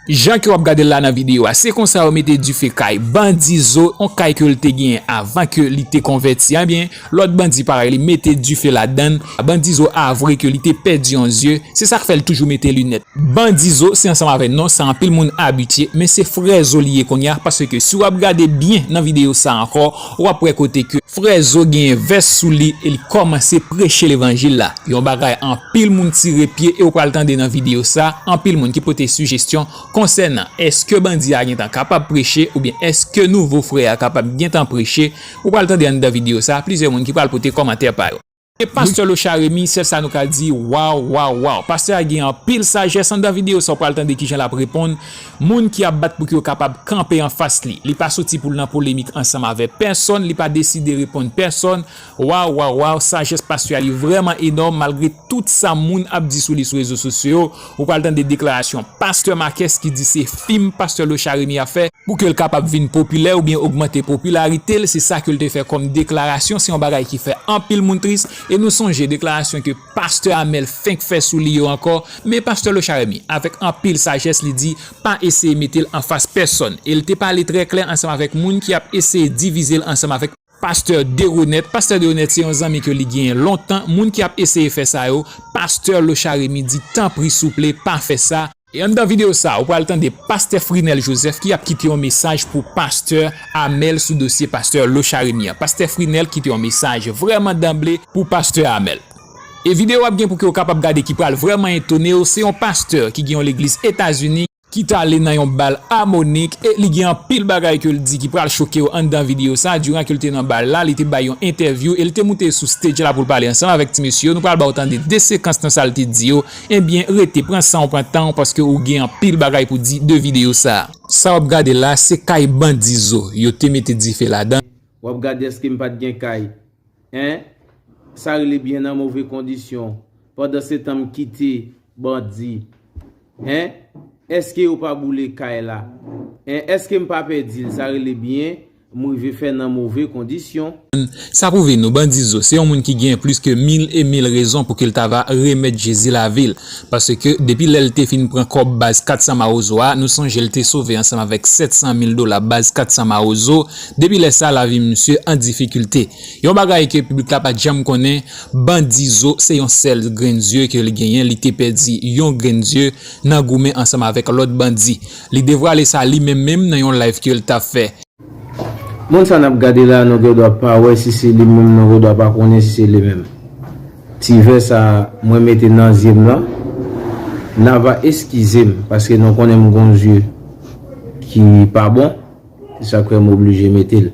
Jan ke wap gadel la nan video a se konsa yo mete dife kay bandi zo yon kay kel te genyen avan ke li te konvèti ebyen lòt bandi parèy li mete dife ladann bandi zo avwe ke li te pèdi yon zye se sak fèl toujou mete linèt. Bandi zo se ansanm avè non sa anpil moun abitye men se frè zo li ye kounya paske si wap gade byen nan video sa ankò Wap wè kote ke frè Zo genyen vès sou li e li kòmanse preche levanjil la. Yon bagay anpil moun tire pye e ou pral tande nan videyo sa, anpil moun ki pote sijestyon konsènan eske bandi a gentan kapab preche oubyen eske nouvo frè a kapab gentan preche. Ou pral tande anndan videyo sa plizyè moun ki pral pote kòmantè pa yo. E pastè locha remy sèl sa nou ka di waw waw waw pastè a gen anpil sajès andan video sa ou pral tande kijan lap reponn moun ki ap bat pou ki yo kapab kanpe anfas li li pa soti poul nan polemik ansanm avè pèsòn li pa deside reponn pèsòn waw waw waw sajès pastè a li vrèman enòm malgre tout sa moun ap di sou li sou rezo sosyo Ou pral tande deklarasyon Pastè Marques ki di se fim Pastè Locha Rémy ap fè pou ke l kapab vin popilè oubyen ogmante popilarite l, se sa ke l te fè kòm deklarasyon, se yon bagay ki fè anpil moun tris e nou sonje deklarasyon ke Pastè Amel fenk fè sou li yo ankò, men Pastè Locha Rémy avèk anpil sajès li di pa eseye mete l anfas pèsòn e l te pale trè klè ansanm avèk moun ki ap eseye divize l ansanm avèk. Pastè Deronette Pastè Deronette se yon zanmi ke li genyen lontan, moun ki ap eseye fè sa yo, Pastè Locha Remy di tanpri souple pa fè sa, e anndan videyo sa ou pral tande Pastè Frinel Joseph ki ap kite yon mesaj pou Pastè Amel sou dosye Pastè Locha Remy an, Pastè Frinel kite yon mesaj vrèman danble pou Pastè Amel e videyo ap gen pou ke ou kapab gade ki pral vrèman etonew, se yon Pastè ki gen yon legliz Etazini. ki t ale nan yon bal Harmonik e li gen anpil bagay ke l di ki pral choke w anndan videyo sa, diran ke l te nan bal la li te bay yon entèvyou e li te moute sou stage la pou l pale ansanm avèk ti mesye yo nou pral ba w tande 2 sekans nan sa l te di yo ebyen rete pran san w pran tan w paske ou gen anpil bagay pou di de videyo sa. Sa wap gade la se kay bandi zo yo te mete dife ladan. Wap gade eske m pat gen kay Hein sa rele byen nan move kondisyon pandan se tan m kite bandi hein eske yo pa boule kay la hein eske m pa pèdi l sa rele byen m rive fè nan move kondisyon. Sa pwouve nou bandi zo se yon moun ki gen plis ke mil e mil rezon pou ke l ta va remèt Jezi lavi l paske depi lè l te fin pran kòb baz 400 mawozo a nou sonje l te sove ansanm avèk 700 mil dola baz 400 mawozo Depi lè sa lavi misye an difikilte. Yon bagay ke piblik la pat janm konnen, Bandi Zo se yon sèl grenn zye ke li genyen, li te pèdi yon grenn zye nan goumen ansanm avèk lòt bandi. Li devwale sa li menm menm nan yon live ke l ta fè. Moun sa nap gade la nou gen dwa pa wè si se li menm nou gen dwa pa konnen si se li menm. Ti vè sa mwen mete nan zye m lan na va eskize m paske nou konnen m gon zye ki pa bon. Se sa k fè m oblije mete l.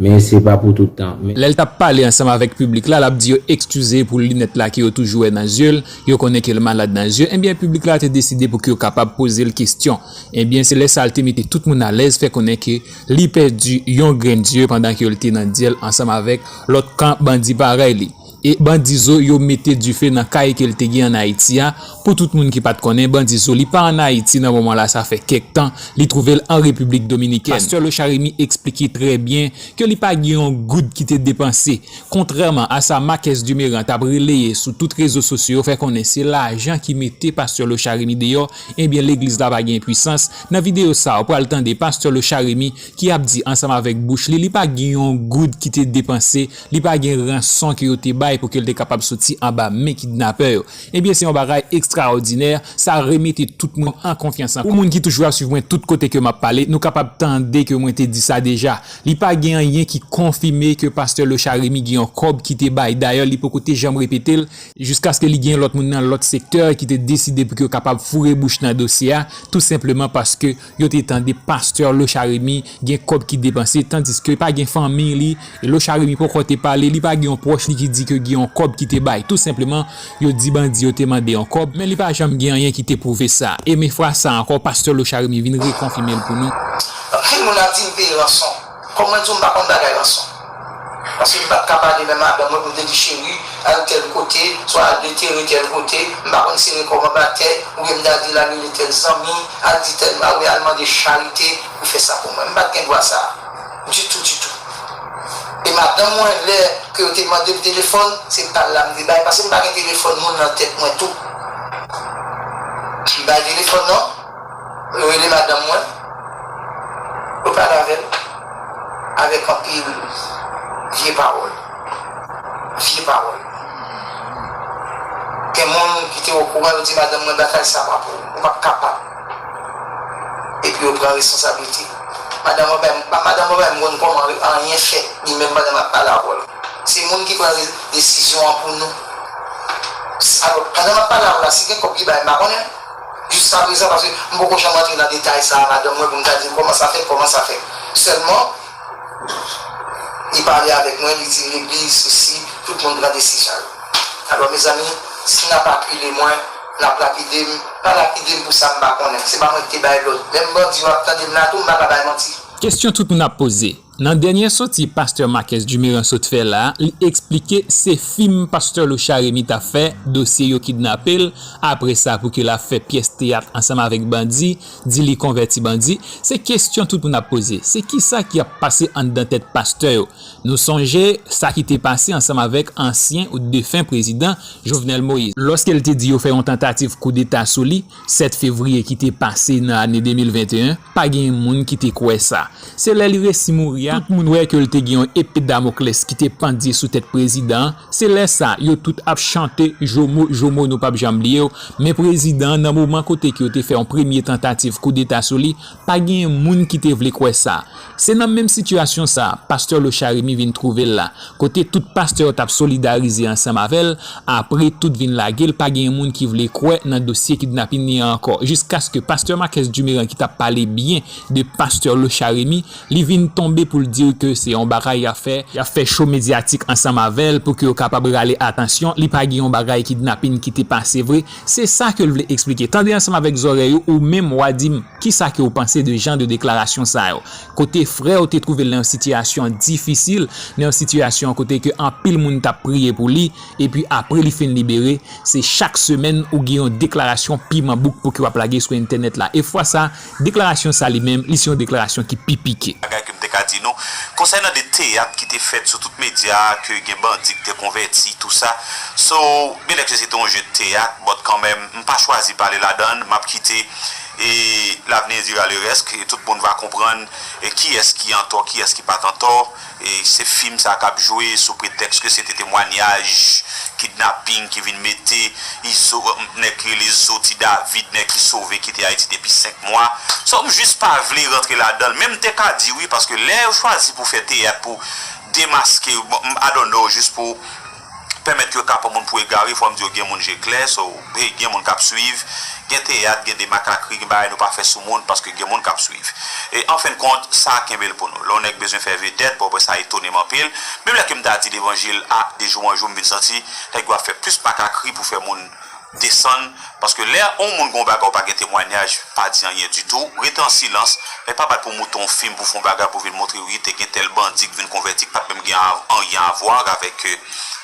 Men se pa pou tout tan. Lè l t ap pale ansanm avèk piblik la, l ap di yo ekskize pou linèt la ke yo toujou wè nan zye l, yo konnen ke l malad nan zye, enbyen piblik la te deside pou ke yo kapab poze l kestyon. Enbyen se lè sa l te mete tout moun alèz, fè konnen ke li pèdi yon grenn zye pandan ke l te nan dyèl ansanm avèk lòt kan bandi parèy li. E bandi zo yo mete dife nan kay ke l te gen an Ayiti a, pou tout moun ki pat konnen, bandi zo li pa an Ayiti nan moman la sa fè kèk tan, li twouve l an Repiblik Dominikèn. Pastè Locharemy eksplike trè byen ke li pa gen yon goud ki te depanse, kontrèman a sa Marques Dumerant ap releye sou tout rezo sosyo yo fè konnen se lajan ki mete pastè Locharemy deyò, ebyen legliz la pa gen pwisans, nan videyo sa ou pral tande pastè Locharemy ki ap di ansanm avèk bouch li li pa gen yon goud ki te depanse Li pa gen ranson ke yo te bay pou ke l te kapab soti anba men kidnapè yo. Ebyen se yon bagay ekstraòdinè, sa remete tout moun an konfyans ankò. Pou moun ki toujou ap swiv mwen tout kote ke m ap pale, nou kapab tande ke mwen te di sa deja. Li pa gen anyen ki konfime ke pastè Lochard Rémy gen yon kòb ki te bay. Dayè li poko te janm repete l. Jiskaske li gen lòt moun nan lòt sektè ki te deside pou ke yo kapab foure bouch nan dosye a, tou senpleman paske yo te tande pastè Locharemy gen kòb ki depanse tandiske pa gen fanmiy li e Locharemy poko te pale li pa gen yon pwòch li ki di ke gen yon kòb ki te bay tou senpleman yo di bandi yo te mande yon kòb men li pa janm gen anyen ki te pwouve sa e men fwa sa ankò pastè Locharemy vin rekonfimel pou nou. Anpil moun ap di m peye ranson. Kòm mwen di w m pa konn bagay ranson. Paske m pat ka pale men madanm mwen pou m te di cheri al tèl kote, swa al detere tèl kote, m pa konn sere kò m anba tè, oubyen m ta di l al rele tèl zanmi, al di tèl a oubyen al mande charite pou fè sa pou mwen. M pat gen dwa sa a ditou ditou. E madanm mwen lè ke yo te mande m telefòn, se pa l la m te bay paske m pa gen telefòn moun nan tèt mwen tou. M bay telefòn nan. Mwen rele madanm mwen, mwen pale avè l avèk anpil vye pawòl. Vye pawòl. Gen moun ki te okouran yo di madanm mwen batay sa pa pou ou, ou p ap kapab. Epi yo pran responsablite. Madanm mwen bay m, madanm mwen bay m konn kòman anyen fèt li menm pandan m ap pale avè l. Se moun ki pran desizyon an pou nou. Alò, pandan m ap pale avè l la, si gen kòb li bay m pa konnen. Jiska prezan, paske m poko janm antre nan detay sa a madanm mwen pou m ta di l kòman sa fèt, kòman sa fèt. Sèlman, li pale avèk mwen, li di legliz sesi, tout moun pran desizyon yo. Alò mezanmi, si n ap akile mwen, n ap lapide m, pa lapide m pou sa m pa konnen. Se pa mwen ki te bay lòd. Menm bandi yo ap tande m la tou, m pa ka bay manti. Kesyon tout moun ap poze, Nan dènyè soti pastè Marques Dumeran sot fè la, li eksplike se fim pastè Locha Remy t ap fè, dosye yo kidnape l, apre sa pou ki l ap fè pyès teyat ansanm avèk bandi, di li konvèti bandi, se kesyon tout moun ap poze, se kisa ki ap pase anndan tèt pastè yo, nou sonje sa ki te pase ansanm avèk ansyen ou defen prezidan Jovenel Moïse, lòske l te di yo fè yon tantativ koudeta sou li 7 fevriye ki te pase nan ane 2021. Pa gen moun ki te kwè sa. Se lè li resi mouri a, tout moun wè ke l te gen yon epe Damoclès ki te pandye sou tèt prezidan an. Se lè sa, yo tout ap chante Jomo, Jomo nou pap janm bliye w. Men prezidan an, nan moman kote ke yo te fè yon premye tantativ koudeta sou li, pa gen moun ki te vle kwè sa. Se nan menm sitiyasyon sa, pastè Locharymi vin twouve l la. Kote tout pastè yo tap solidarize ansanm avèl apre tout vin lagel pa gen moun ki vle kwè nan dosye kidnapin li an ankò jiskaske pastè Marques Dumeran ki tap pale byen de pastè Locharemy li vin tonbe poul diw ke se yon bagay yap fè yap fè show medyatik ansanm avèl pouki yo kapab rale atansyon li pa gen yon bagay kidnapin ki te pase vre se sa kel vle eksplike tande ansanm avèk zòrèy ou ou menm wa dim kisa ke ou panse de jan de deklarasyon sa yo kote frè yo te twouve l nan yon sitiyasyon difisil, nan yon sitiyasyon kote ke anpil moun t ap priye pou li, epi apre li fin libere, se chak semèn ou gen yon deklarasyon piman bouk pou ki w ap lage sou entènèt la. E fwa sa, deklarasyon sa li menm, li se yon deklarasyon ki pi pike. Bagay ke m te ka di nou, konsènan de teyat ki te fèt sou tout medya a, ke gen bandi ki te konvèti, tou sa, so, byenèke se te yon je de teyat, bòt kanmenm, m pa chwazi pale ladan l, m ap kite E l'avenir dira le reste, tout moun va konprann kiyès ki antò, kiyès ki pat antò, se fim sa kap jwe sou pretèks ke se te temwanyaj kidnaping ki vin mete Izo, nèg ki rele Zo Ti David, nèg ki sove kite Ayiti depi 5 mwa, so m jis pa vle rantre ladanl, men m te ka di wi paske lè yo chwazi pou fè teyat pou demaske, I don't know, jis pou. Pèmèt yo ta pran moun pou egare fòm di yo gen moun je klè so hey gen moun kap swiv gen teyat gen de makakri gen bagay nou pa fè sou moun paske gen moun kap swiv e anfenn kont sa kenbel pou nou lè yon nèg bezwen fè vedèt bon aprè sa etonem anpil menm lè kem ta di levanjil a de jou an jou m vin santi nèg yo ap fè plis makakri pou fè moun Desann, paske lè on moun gen on bagay ou pa gen temwanyaj, pa di anyen ditou, rete an silans, men pa bat pou mouton on fim pou fon bagay pou vin montre wi te gen tèl bandi k vin konvèti k pat menm gen anyen avwar avèk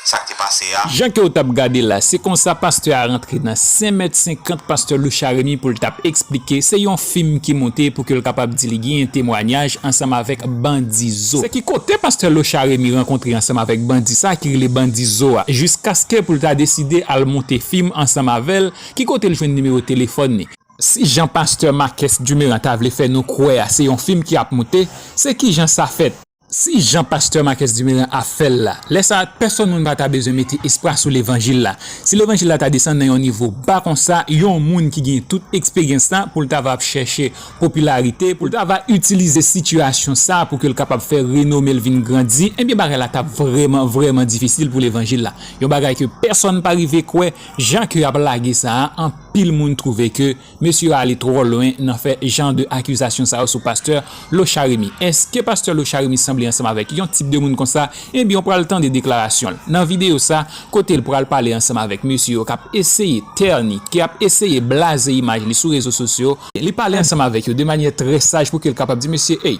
sak te pase a. Jan ke ou tap gade la, se konsa pastè a rantre nan senmèt senkant pastè Loucharemy poul tap eksplike, se yon. Fim ki monte pou ke l kapab di li ginyen temwanyaj ansanm avèk bandi zo. Se ki kote pastè Locha Remy rankontre ansanm avèk bandi sa ki rele bandi zo a jiskaske pou l ta deside al monte fim ansanm avè l, ki kote l jwenn nimewo telefòn ni. Si jan pastè Makès Dumeran ta vle fè nou kwè a se yon fim ki ap monte, se kijan sa fèt? Si jan pastè Marques Duméran ap fè l la, lè sa a pèsòn moun pa ta bezwen mete espwa sou levanjil la. Si levanjil la ta desann nan yon nivo ba konsa, yon moun ki gen tout eksperyans la pou l ta va ap chèche popilarite, pou l ta va itilize sitiyasyon sa pou ke l kapab fè renome l vin grandi, enbyen bagay la t ap vrèman, vrèman difisil pou levanjil la. Yon bagay ke pèsòn pa rive kwè, jan ke y ap lage sa a, anpil moun twouve ke. Mesye yo ale twò lwen nan fè jan de akizasyon sa yo sou pastè Locharemy. Eske pastè Locharemy sanble ansanm avèk yon tip de moun konsa? Ebyen ou pral tande deklarasyon l nan videyo sa kote l pral pale ansanm avèk mesye yo k ap eseye tèni, k ap eseye blaze imaj li sou rezo sosyo. Li pale ansanm avèk yo de manyè trè saj pou ke l kapab di mesye, ey!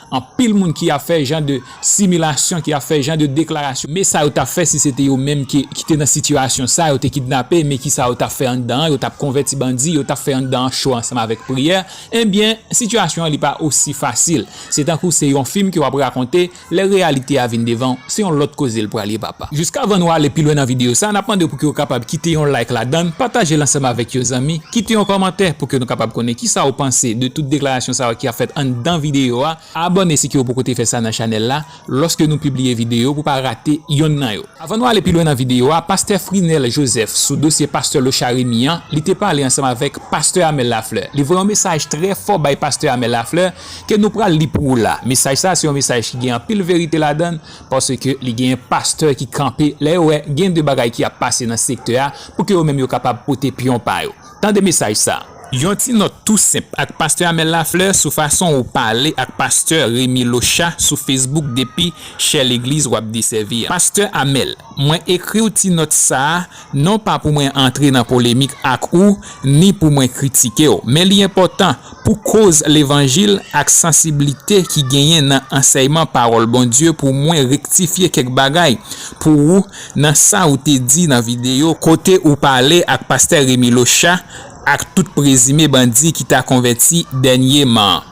Anpil moun ki ap fè jan de similasyon, ki ap fè jan de deklarasyon. Men sa yo tap fè si se te yo menm ki te nan sitiyasyon sa, yo te kidnape, men kisa yo tap fè anndan an, yo tap konvèti bandi, yo tap fè anndan an cho ansanm avèk priyè, enbyen sitiyasyon an li pa osi fasil. Se tankou se yon fim ke wap rakonte, lè reyalite a vin devan w, se yon lòt koze l pral ye papa. Jiskavan nou ale pi lwen nan videyo sa, nap mande w pouki w kapab kite yon like ladann, pataje l ansanm avèk yon zanmi, kite yon kòmantè pouki nou kapab konnen kisa w panse de tout deklarasyon sa yo ki ap fèt anndan videyo a, abòne siki w poko te fè sa nan chanèl la lòske nou pibliye videyo pou pa rate yonn nan yo. Avan nou ale pi lwen nan videyo a, pastè Frinel Joseph sou dosye pastè Locha Remy an, li te pale ansanm avèk pastè Amel Lafleur. Li voye yon mesaj trè fò bay pastè Amel Lafleur ke nou pral li pou ou la. Mesaj sa se yon mesaj ki gen anpil verite ladann, Paske li genyen pastè ki kanpe lè yo wè gen de bagay ki ap pase nan sektè a pou ke yo menm yo kapab pote pyon pa yo. Tande mesaj sa a. Yon ti nòt tou senp ak pastè Amel Lafleur sou fason ou pale ak pastè Remy Locha sou Facebook depi chè legliz wap desèvi a. Pastè Amel, mwen ekriw ti nòt sa a Non pa pou mwen antre nan polemik ak ou ni pou mwen kritike w, men li enpòtan pou koz levanjil ak sansiblite ki genyen nan ansèyman pawòl Bondye pou mwen rektifye kèk bagay pou ou nan sa ou te di nan videyo kote ou pale ak pastè Remy Locha ak tout prezime bandi ki ta konvèti dènyeman an.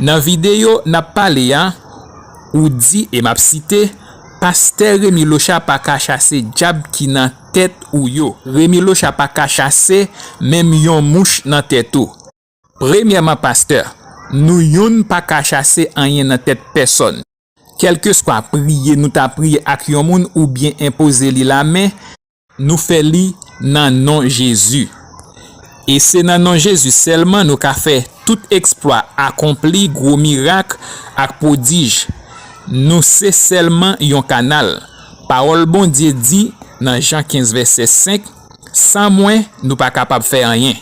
Nan videyo n ap pale a, ou di e m ap site. Pastè Remy Locha paka chase djab ki nan tèt ou yo. Remy Locha paka chase menm yon mouch nan tèt ou. Premyèman pastè, nou youn paka chase anyen nan tèt pèsòn. Kèlkeswa priye nou ta priye ak yon moun oubyen enpoze li lamen, Nou fè li nan non Jezi. E se nan non Jezi sèlman nou ka fè tout eksplwa, akonpli gwo mirak ak pwodij. Nou se sèlman yon kanal. Pawòl Bondye di nan Jan 15 vèsè 5, San mwen, nou pa kapab fè anyen.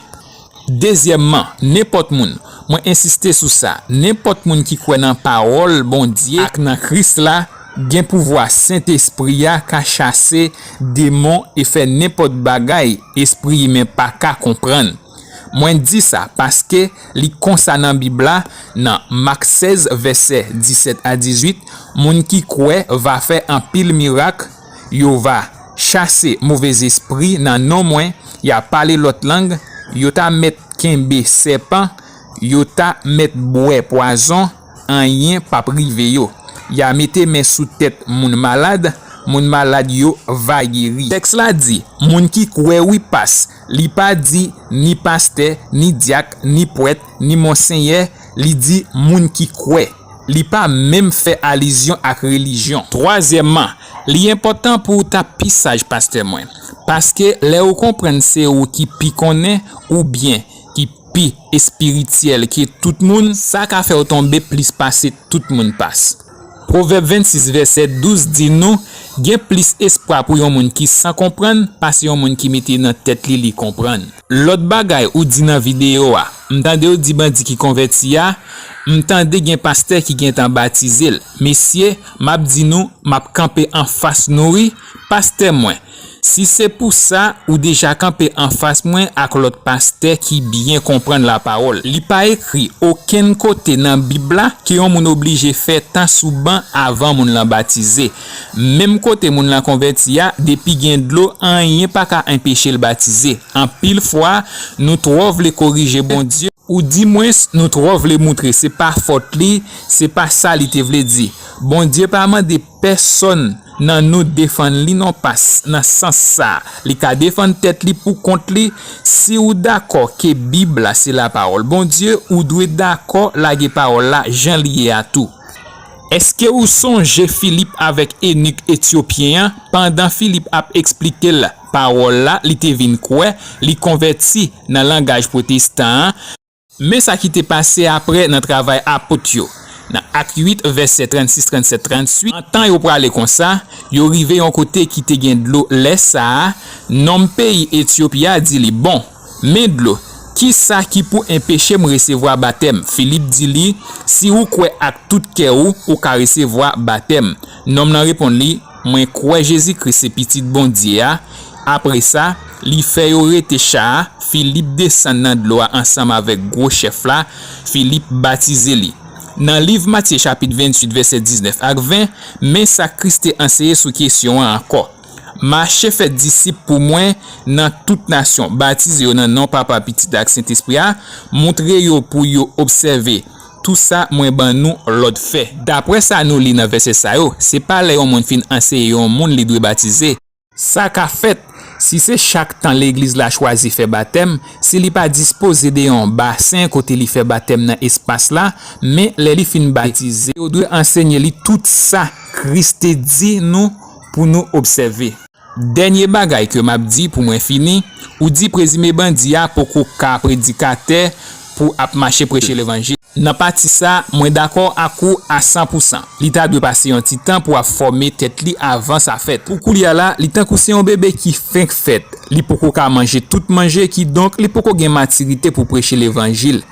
Dezyèmman, nenpòt moun, mwen ensiste sou sa, nenpòt moun ki kwè nan Pawòl Bondye ak nan Kris la, gen pouvwa Sentespri a ka chase demon e fè nenpòt bagay espri imen pa ka konprann. Mwen di sa paske li konsa nan Bib la, nan Mak 16 vèsè 17 a 18, Moun ki kwè va fè anpil mirak, Yo va chase movezespri nan non mwen, ya pale lòt lang, yo ta mèt kenbe sèpan, yo ta mèt bwè pwazon, anyen p ap rive yo. Ya mete men sou tèt moun malad, moun malad yo va geri. Tèks la di, Moun ki kwè wi pas. Li pa di ni pastè, ni dyak, ni pwèt, ni monsenyè, li di moun ki kwè. Li pa menm fè alizyon ak relijyon. Twazyèmman, li enpòtan pou w ta pi saj pastè mwen. Paske lè ou konprann se ou ki pi konnen oubyen ki pi espirityèl ke tout moun, sa ka fè w tonbe plis pase tout moun pas. Pwovèb 26 vèsè 12 di nou, Gen plis espwa pou yon moun ki san konprann pase yon moun ki mete nan tèt li li konprann. Lòt bagay ou di nan videyo a, m tandew di bandi ki konvèti a, m tande gen pastè ki gentan batizel, mesye map di nou map kanpe anfas nou wi, pastè mwen, Si se pou sa, ou deja kanpe anfas mwen ak lòt pastè ki byen konprann lapawòl. Li pa ekri okenn kote nan Bib la ke yon moun oblije fè tan sou ban avan moun lan batize. Menm kote moun lan konvèti a, depi gen dlo, anyen pa ka enpeche l batize. Anpil fwa, nou twò vle korije Bondye. Ou di mwens nou twò vle moutre se pa fòt li, se pa sa li te vle di. Bondye pa mande pèsonn nan nou defann li non pas nan sans sa li ka defann tèt li pou kont li, si ou dakò ke bib la se la pawòl Bondye ou dwe dakò lage pawòl la jan li ye a tou. Eske ou sonje Filip avèk enik etyopyen an pandan Filip ap eksplike l Pawòl la, li te vin kwè, li konvèti nan langaj pwotestan an. Men sa ki te pase apre nan Travay Apot yo, nan Ak 8, vèsè 36, 37, 38, Antan yo prale konsa, yo rive yon kote ki te gen dlo, lè sa a, nonm peyi Etyopi a di li, Bon, men dlo, ki sa ki pou enpeche m resevwa batèm? Filip di li, Si ou kwè ak tout kè ou, ou ka resevwa batèm. Nonm nan reponn li, Mwen kwè Jezi Kris se Pitit Bondye a. Apre sa, li fè yo rete cha a, Filip desann nan dlo a ansanm avèk gwo chèf la, Filip batize li. Nan liv Matye chapit 28 vèsè 19 ak 20, men sa Kris te anseye sou kesyon an ankò, Mache fè disip pou mwen nan tout nasyon, batize yo nan non Papa, Pitit ak Sentespri a, montre yo pou yo obsève Tou sa mwen ban nou lòd fè. Dapre sa nou li nan vèsè sa yo, se pa lè yon moun fin anseye yon moun li dwe batize. Sa ka fèt, si se chak tan legliz la chwazi fè batèm, si li pa dispoze de yon basen kote li fè batèm nan espas la, men lè li fin batize, yo dwe ansenye li tout sa Kris te di nou pou nou obsève. Dènye bagay ke m ap di pou mwen fini, ou di prezime bandi a poko ka predikatè pou ap mache preche levanjil. Nan pati sa, mwen dakò ak ou a san pou san. Li ta dwe pase yon ti tan pou ap fòme tèt li avan sa fèt. Pou koulya la, li tankou se yon bebe ki fenk fèt, li poko ka manje tout manje, kidonk li poko gen matirite pou preche levanjil.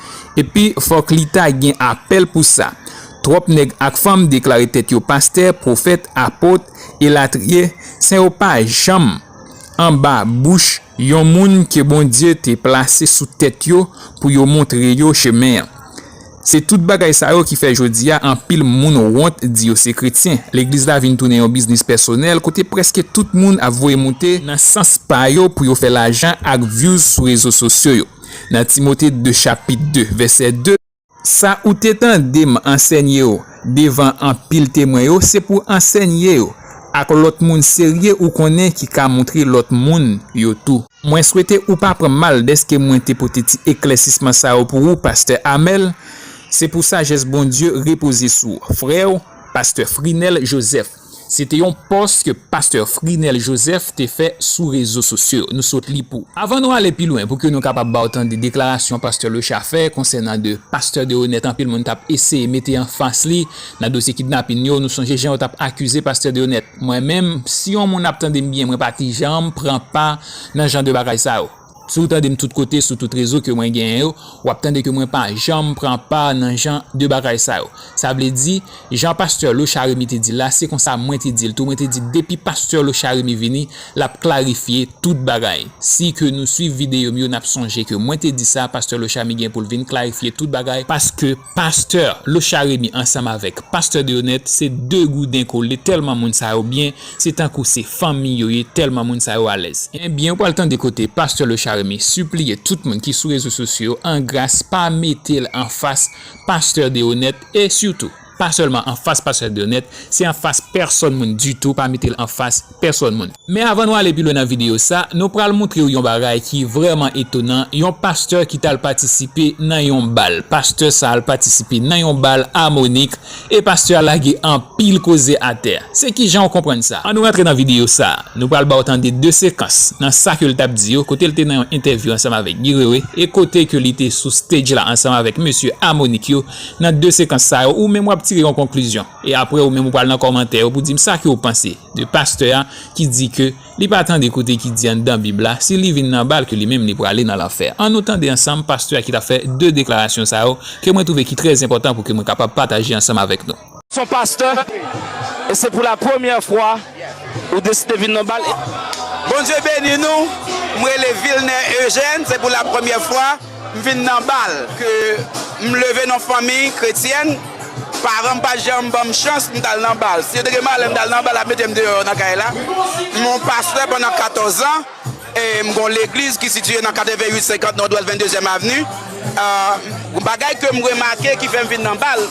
Epi fòk li ta gen apèl pou sa. Twòp nèg ak fanm deklare tèt yo pastè, pwofèt, apot, elatriye, sen yo pa janm anba bouch yon moun ke Bondye te plase sou tèt yo pou yo montre yo chemen an. Se tout bagay sa yo ki fè jodi a anpil moun wont di yo se kretyen. Legliz la vin tounen yon biznis pèsonèl kote prèske tout moun ap voye moute nan sans pa yo pou yo fè lajan ak vyouz sou rezo sosyo yo. Nan Timote 2 chapit 2 vèsè 2. Sa ou te tande m ansènye yo devan anpil temwen yo, se pou w ansènye yo ak lòt moun serye ou konnen ki ka montre lòt moun yo tou. Mwen swete ou pa pran mal dèske mwen te pote ti eklèsisman sa yo pou ou, pastè Amel. Se pou sajès Bondye repoze sou w, frè w, pastè Frinel Joseph. Se te yon pòs ke Pastè Frinel Joseph te fè sou rezo sosyo yo. Nou sot li pou. Avan nou ale pi lwen, pou ke nou kapab ba w tande deklarasyon Pastè Leucha fè konsènan 2 Pastè Deronette anpil moun t ap eseye mete an fas li nan dosye kidnapin yo. Nou sonje jan yo t ap akize Pastè Deronette. Mwen menm, si yon moun ap tande m byen, mwen pa ti janm pran pa nan jan de bagay sa yo. Si w tande m tout kote sou tout rezo ke mwen genyen yo, w ap tande ke mwen pa janm pran pa nan jan de bagay sa yo. Sa vle di, jan pastè Locharemy te di l la, se konsa mwen te di l tou, mwen te di depi pastè Locharemy vini, l ap klarifye tout bagay. Si ke nou swiv videyo m yo, n ap sonje ke mwen te di sa, pastè Locharmy gen pou l vin klarifye tout bagay, paske pastè Locharemy ansanm avèk pastè Deonette se de gouden kole tèlman moun sa yo byen, Se tankou se fanmi yo ye tèlman moun sa yo alèz. Ebyen ou pral tande kote pastè Locharemy sipliye tout moun ki sou rezo sosyo yo an gras pa mete l anfas pastè Deronette e sitou pa sèlman anfas pastè Deronette se anfas pèsòn moun ditou pa mete l anfas pèsòn moun. Men avan nou ale pi lwen nan videyo sa nou pral moutre w yon bagay ki vrèman etonan yon pastè ki t al patisipe nan yon bal pastè sa al patisipe nan yon bal Harmonik E pastè a lage anpil koze atè. Se kijan ou konprann sa? An nou rantre nan videyo sa. Nou pral ba ou tande 2 sekans nan sa ke l t ap di yo, kote l te nan yon entèvyou ansanm avèk Guy Wewe e kote ke li te sou stage la ansanm avèk mesye Harmonik yo. Nan 2 sekans sa yo, ou menm w ap tire yon konklizyon e aprè ou menm ou pral nan kòmantè yo pou di m sa ke ou panse de pastè a ki di ke Li pa tande kote ki di anndan bib la si li vin nan bal ke li menm li prale nan lanfè. An nou tande ansanm pastè a ki tap fè 2 deklarasyon sa yo ke mwen twouve ki trè enpòtan pou ke mwen kapab pataje ansanm avèk nou. Son pastè e se pou la premyè fwa ou deside vin nan bal e. Bondye beni nou, m rele Vilner Eugène, se pou la premyè fwa. M vin nan bal ke m leve nan fanmi kretyèn, paran m pa janm ban m chans m t al nan bal. Si yo te gen malè m t al nan bal y ap mete m deyò nan kay la. M yon pastè pandan 14 zan e m gen yon legliz ki sitiye nan 88 50 Nòdwès 22 zyèm avni. Bagay ke m remake ki fè m vin nan bal.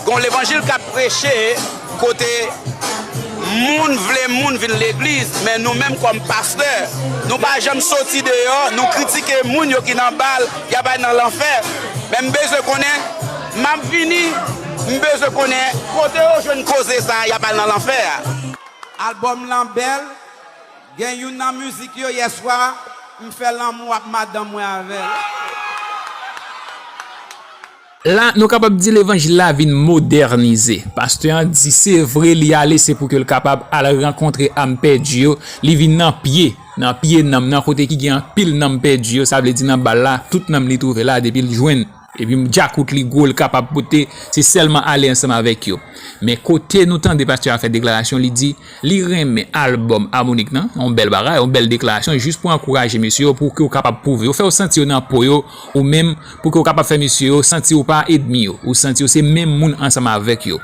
Gon levanjil kap preche kote moun vle moun vin legliz men nou menm kòm pastè nou pa janm soti deyò nou kritike moun yo ki nan bal yap al nan lanfè men m bezwen konnen map vini m bezwen konnen kote yo jwenn koze sa yap al nan lanfè a. Album lan bèl, gen youn nan mizik yo yèswa m fè lanmou ak madanm mwen avèl. La, nou kapab di levanjil la vin modènize. Pastè an di se vre li ale se pou ke l kapab al rankontre am pèdi yo, li vin nan pye, nan pye nanm nan kote ki gen anpil nanm pèdi yo, sa vle di nan bal la, tout nanm li twouve la depi l jwenn, epi djakout li gwo l kapab pote, se sèlman ale ansanm avèk yo. Men kote nou tande pastè a fè deklarasyon, li di. Li renmen album Harmonik nan, yon bèl bagay, yon bèl deklarasyon jis pou ankouraje mesye yo pouki yo kapab pwouve yo, fè yo santi yo nan po yo ou menm pouki yo kapab fè mesye yo santi ou pa edmi yo, ou santi yo se menm moun ansanm avèk yo.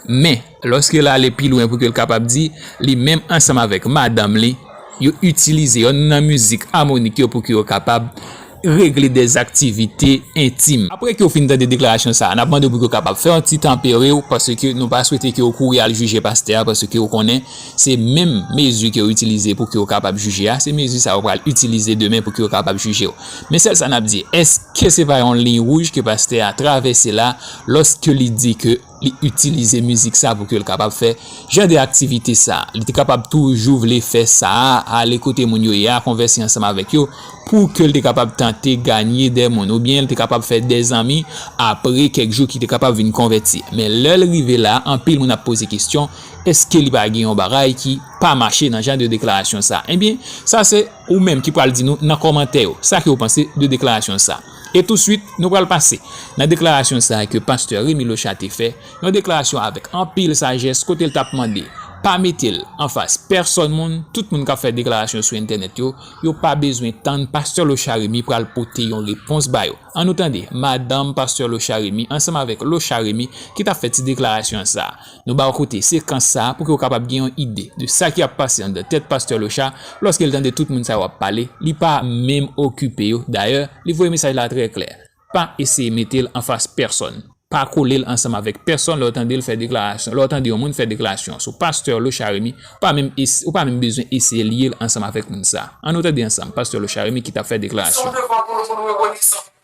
Men, lòske l ale pi lwen pouki l kapab di, li menm ansanm avèk madanm li, yo itilize yonn nan mizik Harmonik yo pouki yo kapab. regle dè aktivite entim. Apre ke w fin tande deklarasyon sa a, n ap mande w pou ke w kapab fè yon ti tan pere w, paske nou pa swete ke w kouri al jije pastè a, paske w konnen se menm mezi ke w itilize pou ke w kapab jije a, se mezi sa a w pral itilize demen pou ke yo kapab jije w. Men sèl sa n ap di, èske se pa yon liy wouj ke pastè a travèse la, lòske li di ke. Li itilize mizik sa pou ke l kapab fè jan de aktivite sa. Li te kapab toujou vle fè sa a, ale kote moun yo ye a, konvèse ansanm avèk yo, pou ke l te kapab tante ganye de moun, oubyen l te kapab fè de zanmi apre kèk jou ki te kapab vin konvèti. Men lè l rive la, anpil moun ap poze kesyon, èske li pa gen yon bagay ki pa mache nan jan de deklarasyon sa? Ebyen, sa se ou menm ki pral di nou nan kòmantè yo, sa ke ou panse de deklarasyon sa. E touswit, nou pral pase nan deklarasyon sa a ke pastè Remy Leuchat te fè, yon deklarasyon avèk anpil sajès kote l t ap mande pa mete l anfas pèsòn moun, tout moun k ap fè deklarasyon sou entènèt yo, yo pa bezwen tann pastè Leuchat Remy pral pote yon repons ba yo. An nou tande madanm pastè Leuchat Remy ansanm avèk Leuchat Remy ki t ap fè ti deklarasyon sa a. Nou ba w koute sekans sa a pou ke w kapab gen yon ide de sa ki ap pase anndan tèt pastè Locha lòske l tande tout moun sa yo ap pale, li pa menm okipe yo, dayè li voye mesaj la trè klè, pa eseye mete l anfas pèsòn, pa kole l ansanm avèk pèsòn lè w tande l fè deklarasyon, lè w tande yon moun fè deklarasyon sou pastè Locha Remy ou pa menm ou pa menm bezwen eseye lye l ansanm avèk moun sa. An nou tande ansanm pastè Locha Remy ki t ap fè deklarasyon. Son devwa pou nou pou nou rekonesan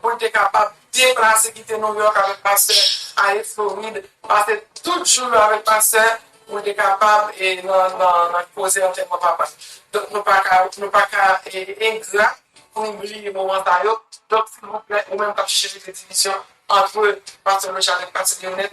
pou l te kapab deplase kite Nouyòk avèk pastè, ale Florid, pase tout jou l avèk pastè pou l te kapab nan koze antèman papa l. Donk nou pa ka nou pa ka engra pou nou bliye moman sa yo. Donk silvouplè ou menm k ap chèche fè divisyon antre pastè Rechad ak pastè Lyonèl,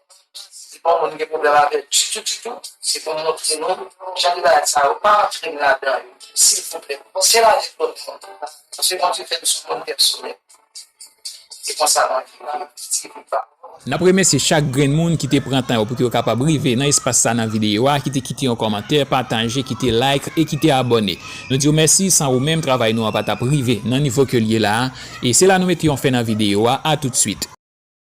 Si yon moun gen pwoblèm avèl ditou ditou se pou montre nou jan de bagay sa yo pa antre nou ladan yo silvouplè se la nèt lòt moun paske Bondye fèm son moun pèsonèl se konsa mwen viv pitit li pam. Nap remèsye chak grenn moun ki te pran tan yo pou yo kapab rive nan espas sa nan videyo a ki te kite yon kòmantè pataje kite like e kite abòne nou diw mèsi san ou menm travay nou an patap rive nan nivo kel ye la e se la nou mete yon fen nan videyo a a tout swit.